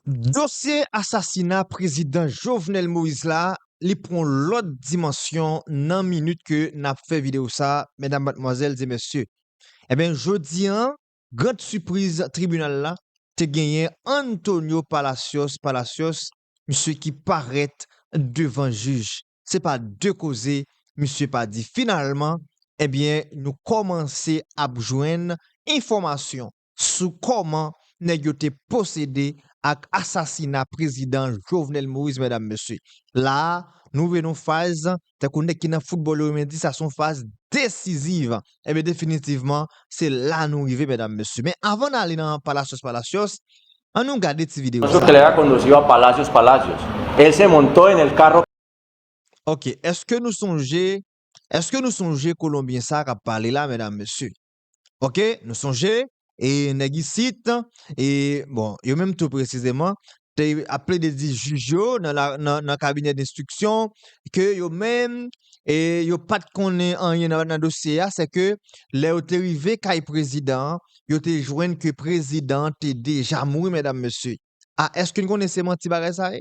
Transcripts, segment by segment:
Dosye asasina prezidan Jovenel Moïse la li pran yon lòt dimansyon nan minit ke nap fè video sa medam matmwazèl e mesye enben jodi an grand sipriz tribinal la te genyen Antonio Palacios Palacios misye ki parèt devan jij se pa de koze misye pa di finalman enben nou kòmanse ap jwenn enfòmasyon sou kòman nèg yo te posede ak asasina prezidan Jovenel Moïse medam mesye. La a, nou rive nan yon faz, tankou nèg ki nan foutbòl yo renmen di sa se yon faz desiziv. Enben definitivman, se la nou rive medam mesye. Men avan n ale nan palasyos palasyos, an nou gade ti videyo sa. Ok, eske nou sonje, eske nou sonje kolonbyen sa a k ap pale la medam mesye? Ok nou sonje e nèg isit e bon yo menm tou presizeman te ap plede di jij yo nan la nan nan kabinè denstriksyon ke yo menm e yo pat konnen anyen nan nan dosye a se ke lè yo te rive kay prezidan an yo te jwenn ke prezidan an te deja mouri medam mesye a eske nou konnen se manti bagay sa ye?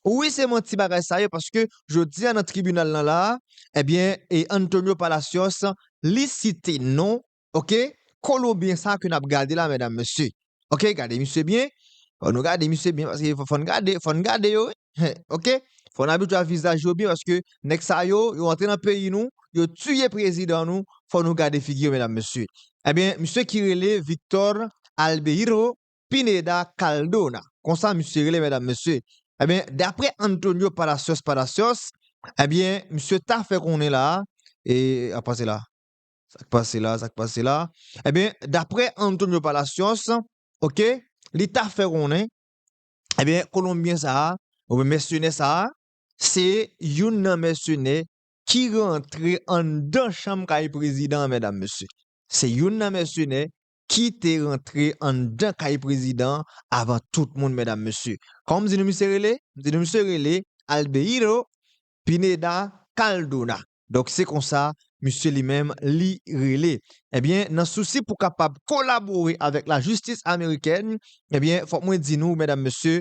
Wi se manti bagay sa yo paske jodi a nan tribinal nan la a ebyen e Antonio Palacios li site non ok kolonbyen sa ke nap gade la medam mesye ok gade misye byen fò nou gade misye byen paske fò n gade fò n gade yo wi ok fò n abitwa vizaj yo byen paske nèg sa yo yo antre nan peyi nou yo tiye prezidan nou fò nou gade figi yo medam mesye ebyen misye ki rele Victor Albeiro Pineda Caldona, konsa misye rele medam mesye, ebyen daprè Antonio Palacios Palacios, ebyen misye ta fè konnen la a, e ap pase la, sak pase la, sak pase la, ebyen daprè Antonio Palacios ok, li ta fè konnen, ebyen kolonbyen sa a, oubyen mèsenè sa a, se youn nan mèsenè ki rantre anndan chanm kay prezidan an medam mesye, se youn nan mèsenè ki te rantre anndan kay prezidan avan tout moun medam mesye. Kòman m di nou misye rele? M di nou misye rele Albeiro Pineda Caldona. Donk se konsa misye li menm li rele. Ebyen nan sousi pou kapab kolabore avèk lajistis amerikèn, ebyen fòk mwen di nou medam mesye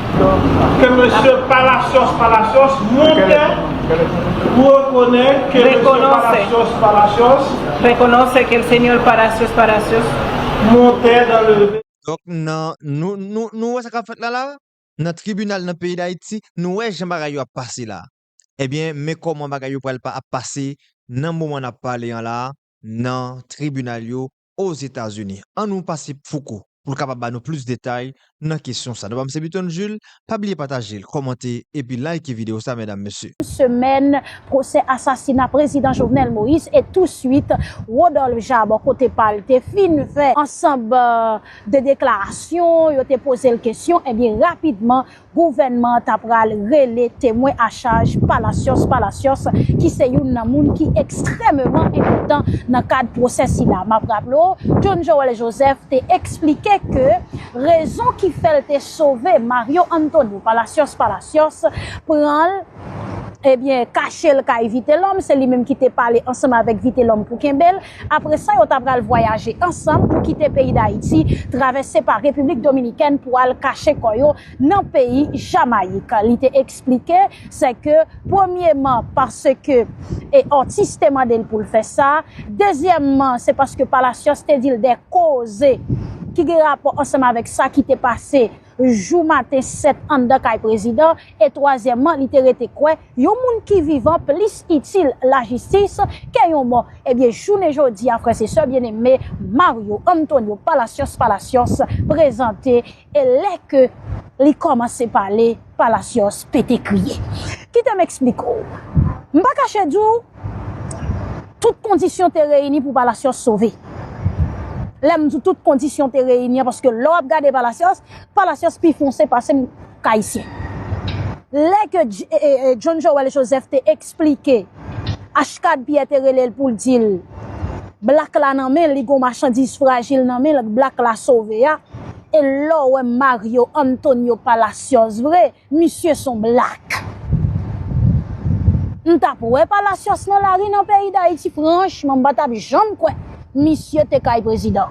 Ke mesye Palacios Palacios monte pou rekonè ke mesye Palacios Palacios. Rekononse ke el Señor Palacios Palacios monte dan le. Donk nan, nou, nou, nou wè sa k ap fèt la la a? Nan tribinal nan peyi Dayiti, nou wè jan bagay yo ap pase la a. Ebyen, men kòman bagay yo pral pa ap pase nan moman n ap pale an la a nan tribinal yo Ozetazini. An nou pase Fouco pou l kapab ba nou plis detay nan kesyon sa. Non pa m se Buton Jules, pa bliye pataje l, kòmante epi like videyo sa medam mesye. semèn pwosè asasina prezidan Jovenel Moïse e tou swit Rodolphe Jaar bò kote pa l te fin fè ansanb de deklarasyon yo te poze l kesyon ebyen rapidman Gouvènman an ta pral rele temwen a chaj Palacios Palacios ki se youn nan moun ki ekstrèmeman enpòtan nan kad pwosè sila. M ap raple w, John Joel Joseph te eksplike ke rezon ki fè l te sove Mario Antonio Palacios Palacios pran l, ebyen kache l kay Vitelòm, se li menm ki te pale ansanm avèk Vitelòm pou kenbe l, Apre sa yo ta pral vwayaje ansanm pou kite peyi Dayiti, travèse pa Repiblik Dominikèn pou al kache kò yo nan peyi Jamayik. Li te eksplike se ke premyeman paske Ortiz te mande l pou l fè sa, dezyèmman se paske Palacios te di l de koze ki gen rapò ansanm avèk sa ki te pase jou maten 7 anndan kay prezidan e twazyèmman li te rete kwè yon moun ki vivan plis itil lajistis ke yon mò ebyen jounen jodi a frè se sè byeneme Mario Antonio Palacios Palacios prezante e lè ke li kòmanse pale Palacios pete kriye kite m esplike w m pa kache di w Tout kondisyon te reyini pou Palacios sove. Lè m di tout kondisyon te reyini an paske lè w ap gade Palacios, Palacios pi fonse pase m k ayisyen. Lè ke John Joël Joseph te eksplike Ashcad Pierre te rele l pou l di l Black la nan men l, li gen yon machandiz frajil nan men l k Black la sove a, e lè w wè Mario Antonio Palacios vre, Misye son black. M tap wè palacios nan lari nan peyi dayiti franchman m patap janm kwè misye te kay prezidan.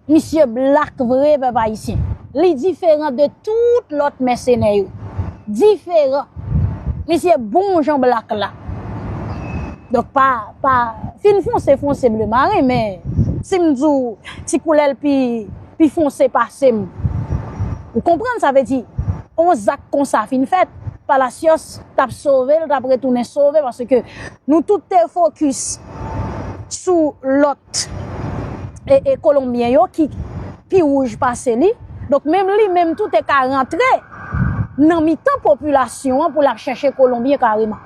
Misye black vre pèp ayisyen. Li diferan de tout lòt mèsenè yo. Diferan. Misye bon jan black la. Donk pa pa fin fonse fonse ble marin men si m di w ti koulè l pi pi fonse pase m. Ou konprann sa vle di, yon zak konsa fin fèt, Palacios t ap sove, l t ap retounen sove paske nou tout te fokis sou lòt Kolonbyen yo ki pi wouj pase li. Donk menm li menm tou te ka rantre nan mitan popilasyon an pou l ap chèche Kolonbyen kareman.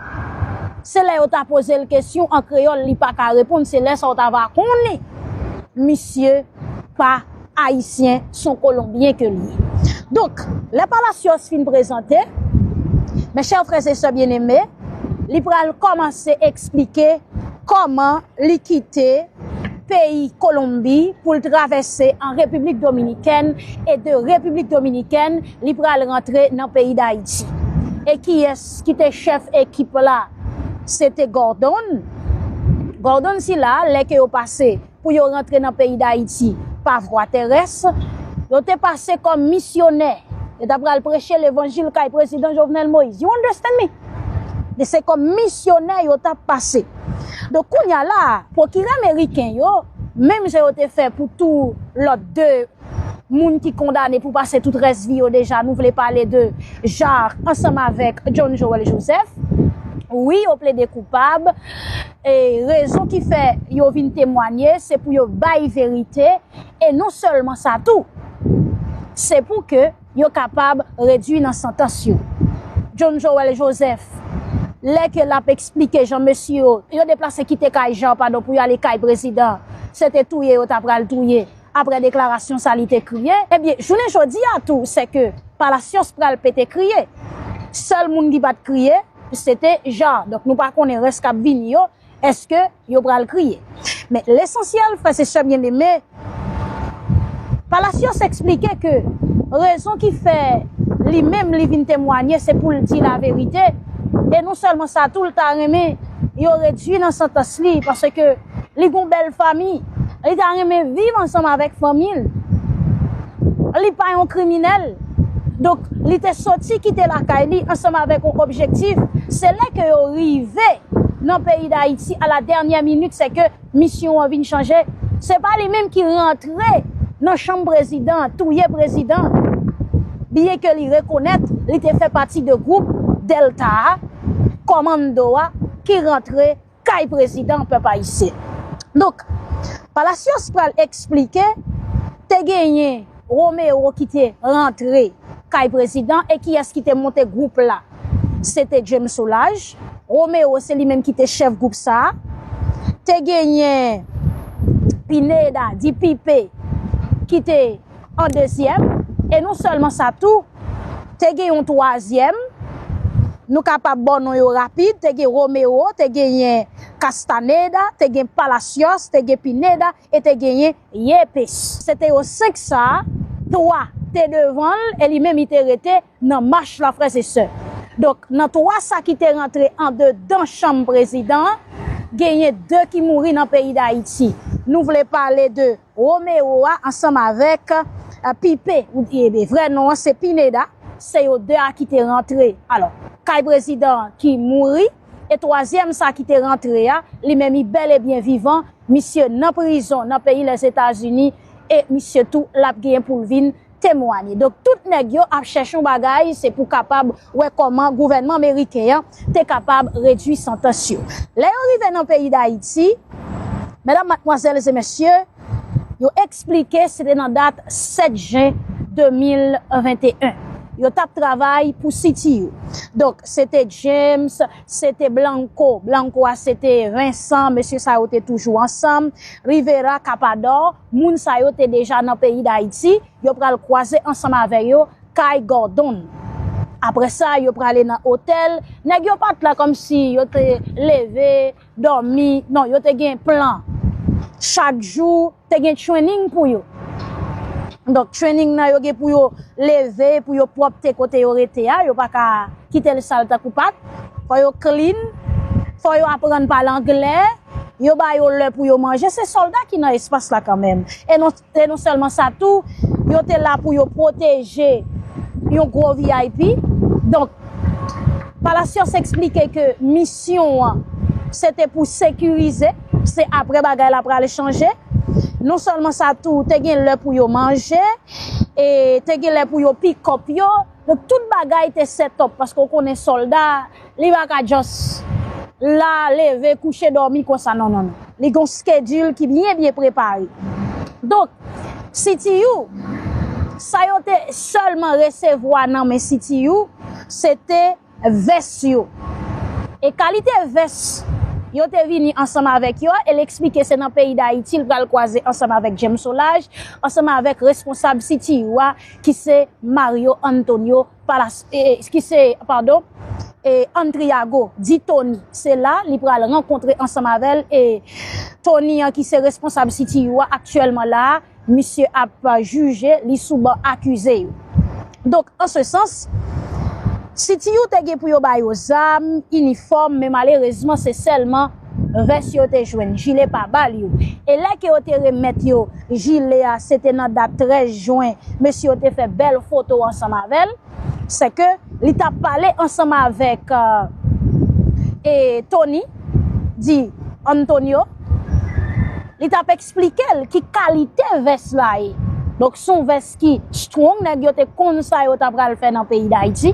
Se lè yo ta poze l kesyon an kreyòl li pa ka reponn, se lè sa w ta va konnen misye. pa Ayisyen, son Kolonbyen ke li ye. Donk, lè Palacios fin prezante, mes chers frères et sœurs bien-aimés, li pral kòmanse eksplike kòman li kite peyi Kolonbi pou l travèse an Repiblik Dominikèn e de Repiblik Dominikèn li pral rantre nan peyi Dayiti. E kiyès ki te chèf ekip la? Se te Gordon. Gordon sila, lè ke yo pase. pou yo rantre nan peyi Dayiti pa vwa terès, yo te pase kòm misyonè, yo ta pral preche levanjil kay Prezidan Jovenel Moïse. You understand me? Donk se kòm misyonè yo ta pase. Donk kounye a la a, pwokirè meriken yo, menm jan yo te fè pou tou lòt 2 moun ki kondane pou pase tout rès vi yo deja, nou vle pale de Jacques ansanm avèk John Joël Joseph, wi yo plede koupab, E rezon ki fè yo vin temwanye se pou yo bay verite e non sèlman sa tou, se pou ke yo kapab redui nan santans yo. John Joël Joseph, lè ke lap eksplike jan mesye yo, yo deplase kite kay Jean padon pou yo ale kay prezidan, se te touye yo ta pral touye, aprè deklarasyon sa li te kriye. Ebyen jounen jodi a tou se ke Palacios pral pete kriye. Sèl moun ki pat kriye. se te ja donk nou pa konnen rès kap vini yo eske yo pral kriye men lesansyèl frè se sè byeneme Palacios eksplike ke rezon ki fè li menm li vin temwanye se poul di la verite e non sèlman sa tou li ta renmen yo redwi nan santans li paske Li gon bèl fanmi. Li ta renmen viv ansanm avèk fanmi l. Li pa yon kriminèl. Donk, li te soti kite lakay li ansanm avèk yon objektif. Se lè ke yo rive nan peyi Dayiti a la dènyè minit se ke misyon an vin chanje. Se pa li menm ki rantre nan chanm prezidan an, touye prezidan an. Byen ke li rekonèt li te fè pati de gwoup Delta a, kòmando a, ki rantre. kay prezidan pèp ayisyen. Donk, Palacios pral eksplike te genyen Romero ki te rantre kay prezidan e kiyès ki te monte gwoup la. Se te James Solage, Romero se li menm ki te chèf gwoup sa a. Te genyen Pineda, di Pipe, ki te. an dezyèm e non sèlman sa tou te gen yon twazyèm nou kapab ba w non yo rapid te gen Romero, te genyen Castaneda, te gen Palacios, te gen Pineda e te genyen Yepes. Se te yo senk sa, twa te devan l e li menm li te rete nan mach la frè se sè. Donk nan twa sa ki te rantre andedan chanm prezidan an genyen de ki mouri nan peyi Dayiti. Nou vle pale de. Romero a ansanm avèk Pipe, vrè non an se Pineda, se yo 2 a ki te rantre alò kay prezidan an ki mouri e twazyèm sa ki te rantre a li menm li bèl e byen vivan, misye nan prizon nan peyi Lèzetazini e misye tou l ap gen pou l vin temwanye. Donk tout nèg yo ap chèche yon bagay se pou kapab wè kòman gouvènman meriken an te kapab redui santans yo. Lè yo rive nan peyi Dayiti, medam, matmwazèl e mesye, yo eksplike se te nan dat 7 jen 2021. Yo t ap travay pou City yo. Donk se te James, se te Blanco, Blanco a se te Vincent, mesye sa yo te toujou ansanm, Rivera, Capador. Moun sa yo te deja nan peyi Dayiti, yo pral kwaze ansanm avè yo kay Gordon. Aprè sa, yo prale nan otèl, nèg yo pat la kòm si yo te leve, dòmi, non yo te gen plan. Chak jou, te gen training pou yo. Donk training nan yo gen pou yo leve, pou yo pwòpte kote yo rete a, yo pa ka kite l sal tankou pat. Fò yo clean, fò yo aprann pale anglè. yo ba yo lè pou yo manje, se sòlda ki nan espas la kanmenm. E non, e non sèlman sa tou, yo te la pou yo pwoteje yon gwo vip. Donk, Palacios eksplike ke misyon an se te pou sekirize, se apre bagay la pral chanje. Non sèlman sa tou, te gen lè pou yo manje, e te gen lè pou yo pikòp yo. Donk tout bagay te setup paske ou konnen solda li pa ka just la leve kouche domi konsa non non non li gon schedule ki byen byen prepare donk CTU sa yo te selman resevwa nan men CTU se te vès yo. E kalite vès yo te vini ansanm avèk yo e l eksplike se nan peyi Dayiti l pral kwaze ansanm avèk James Solage ansanm avèk responsab CTU a ki se Mario Antonio Palas ki se padon Antriago di Tony se la li pral rankontre ansanm avè l e Tony an ki se responsab CTU a aktyèlman la a Misye ap jije li sou ban akize yo. Donk, an se sans, si ti you te gen pou yo ba yo zam, inifòm, men malerezman se sèlman vès yo te jwenn, jile pa ba l yo. E lè ke yo te remèt yo jile a, se te nan dat 13 jwen, mesye yo te fè bèl foto ansanm avè l, sèke li t ap pale ansanm avèk Tony, di Antonio, li t ap. Esplike l ki kalite vès la ye. Donk s on vès ki strong, nèg yo te konn sa yo ta pral fè nan peyi Dayiti.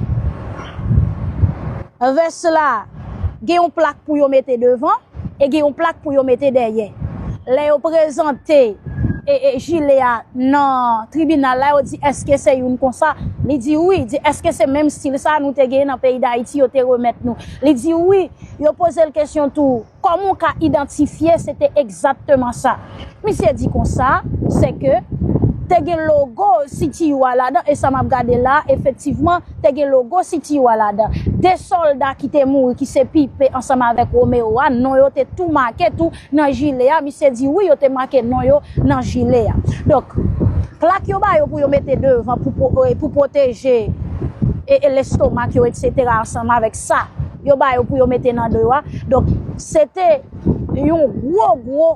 Vès la gen yon plak pou yo mete devan e gen yon plak pou yo mete dèyè. Lè yo prezante jile a nan tribinal la yo di èske se youn konsa, li di wi, di èske se menm stil sa nou te gen nan peyi Dayiti yo te remèt nou. Li di wi, yo poze l kesyon tou. Kòman w ka idantifye se te egzatteman sa misye di konsa, se ke te gen logo CTU a ladan e sa m ap gade la a efektivman te gen logo CTU a ladan. De sòlda ki te mouri ki se Pipe ansanm avèk Romeo a non yo te tou make tou nan jile a, misye di wi yo te make non yo nan jile a. Donk plak yo ba yo pou yo mete devan pou pwoteje lestomak yo eksetera ansanm avèk sa yo ba yo pou yo mete nan do yo a. Donk, se te yon gwo gwo,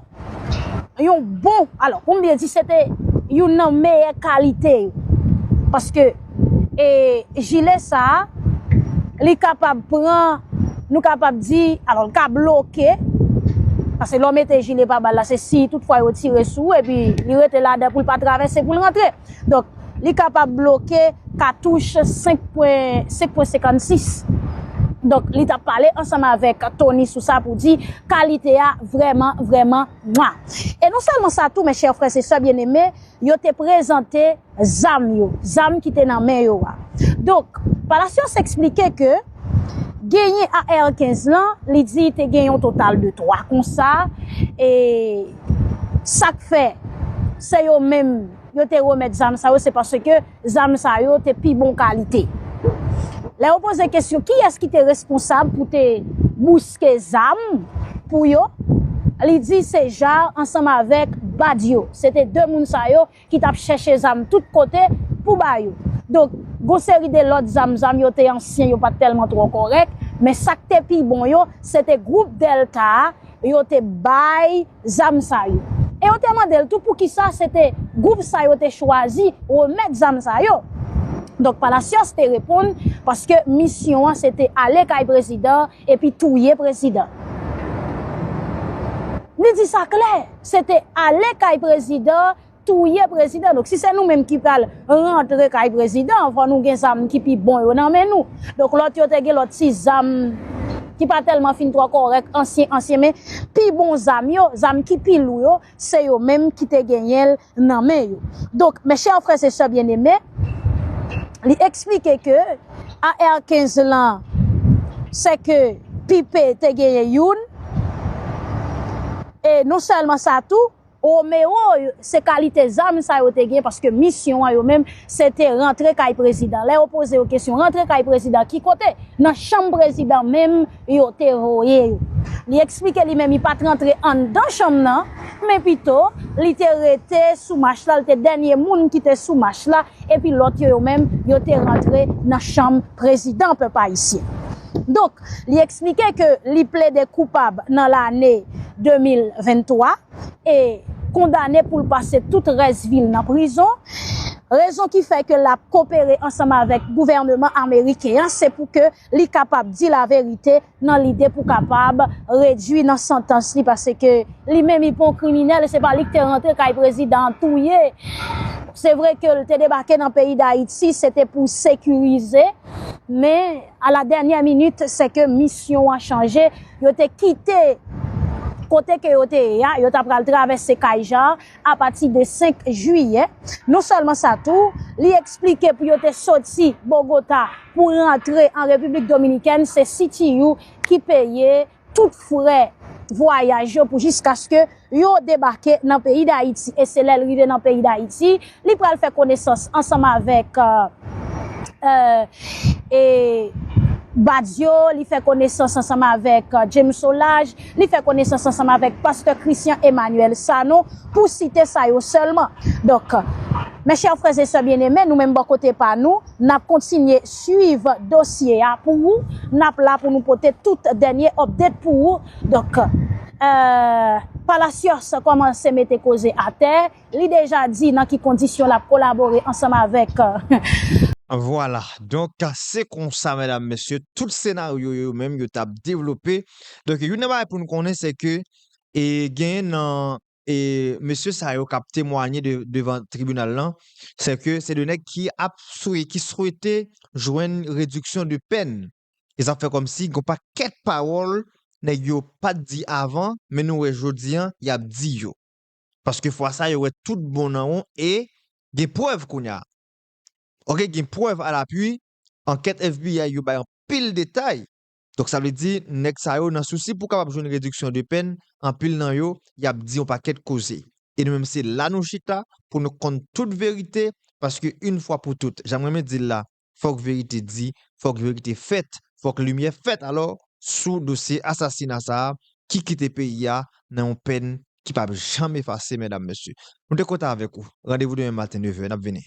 yon bon, alò, pou m byen di, se te youn nan meyè kalite yo. Paske, e, jile sa a, li kapab pran, nou kapab di, alò, li ka bloke, paske lè w mete jile pa bal la, se si tout fwa yo tire sou ou, epi li rete ladan pou l pa travèse, pou l rantre. Donk. li kapab bloke katouch 5.56. Donk li tap pale ansanm avèk Tony sou sa pou di kalite a vrèman vrèman mwa. E non sèlman sa tou mèchè frè se sè byeneme yo te prezante zam yo, zam ki te nan men yo a. Donk Palacios eksplike ke genyen AR 15 lan li di te gen yon total de 3 konsa e sak fè se yo menm. yo te remèt zam sa yo se paske zam sa yo te pi bon kalite. Lè yo poze kesyon kiyès ki te responsab pou te bouske zam pou yo, li di se Jaar ansanm avèk Badio. Se te 2 moun sa yo ki t ap chèche zam tout kote pou ba yo. Donk, gon seri de lòt zam, zam yo te ansyen, yo pa t tèlman twò kòrèk, men sa k te pi bon yo, se te gwoup Dèlta a, yo te bay. zam sa yo. E yo te mande l tou poukisa se te gwoup sa yo te chwazi remèt zam sa yo. Donk Palacios te reponn paske misyon an se te ale kay prezidan epi touye prezidan. Li di sa klè, se te ale kay prezidan touye prezidan donk si se nou menm ki pral rantre kay prezidan fò nou gen zam ki pi bon yo nan men nou donk lòt yo te gen lòt ti zam ki pa tèlman fin twò kòrèk ansyen ansyen men pi bon zam yo zam ki pi lou yo se yo menm ki te genyen l nan men yo donk mes chers frères et sœurs bien-aimés li eksplike ke AR 15 lan se ke Pipe te genyen youn e non sèlman sa tou. Romero se kalite zam sa yo te gen paske misyon an yo menm se te rantre kay prezidan. Lè yo poze yo kesyon rantre kay prezidan ki kote? Nan chanm prezidan menm yo te voye yo. Li eksplike li menm li pat rantre anndan chanm nan men pito li te rete sou mach la, li te dènye moun ki te sou mach la epi lòt yo yo menm yo te rantre nan chanm prezidan pèp ayisyen. Donk. Li eksplike ke li plede koupab nan lane 2023 e kondane pou l pase tout rès vi l nan prizon. Rezon ki fè ke l ap kopere ansanm avèk gouvèneman ameriken an se pou ke li kapab di laverite nan lide pou kapab redui nan santans li paske li menm li pa yon kriminèl e se pa li ki te rantre kay prezidan an touye Se vre ke l te debake nan peyi Dayiti se te pou sekirize men A la dènyè minit, se ke misyon an chanje, yo te kite kote ke yo te ye a, yo ta pral travèse kay Jan an apati de 5 jiyè. Non sèlman sa tou, li eksplike pou yo te soti Bogota pou rantre an Repiblik Dominikèn, se CTU ki peye tout frè vwayaj yo pou jiskaske yo debake nan peyi Dayiti. E se lè l rive nan peyi Dayiti, li pral fè konesans ansanm avèk e Badio, li fè konesans ansanm avèk James Solage, li fè konesans ansanm avèk pastè Christian Emmanuel Sanon, pou site sa yo sèlman. Donk, mè chè frè e sè byeneme, nou menm bò kote pa nou, Nap kontinye swiv dosye a pou ou, nap la pou nou pote tout dènye update pou ou. Donk Palacios kòmanse mete koze atè, li deja di nan ki kondisyon lap kolabore ansanm avèk. Vwala, donk se konsa medam mesye tout senaryo yo menm yo tap devlope. Donk youn nan bagay pou nou konnen se ke genyen nan e mesye sa yo kap temwanye devan tribinal lan, se ke se 2 nèg ki ap swe, ki swete jwenn rediksyon de pèn. E sa fè kòm si gon pakèt pawòl nèg yo pat di avan, men nou wè jodi an yap di yo. Paske fwa sa yo wè tout bon nan won e gen prèv kounya. Ok gen prèv a la pwi, ankèt FBI yo bay anpil detay Donk sa vle di nèg sa yo nan sousi pou kapab jwenn rediksyon de pèn, anpil nan yo, y ap di yon pakèt koze. E nou menm se la nou chita pou nou konn tout verite paske yn fwa pou tout, jan m renmen di l la, fòk verite di, fòk verite fèt, fòk limyè fèt alò sou dosye asasina sa a ki kite peyi a nan yon pèn ki p ap janm efase mèdam mesye. Nou te kontan avèk ou. Randevou demen maten 9 è, n ap vini.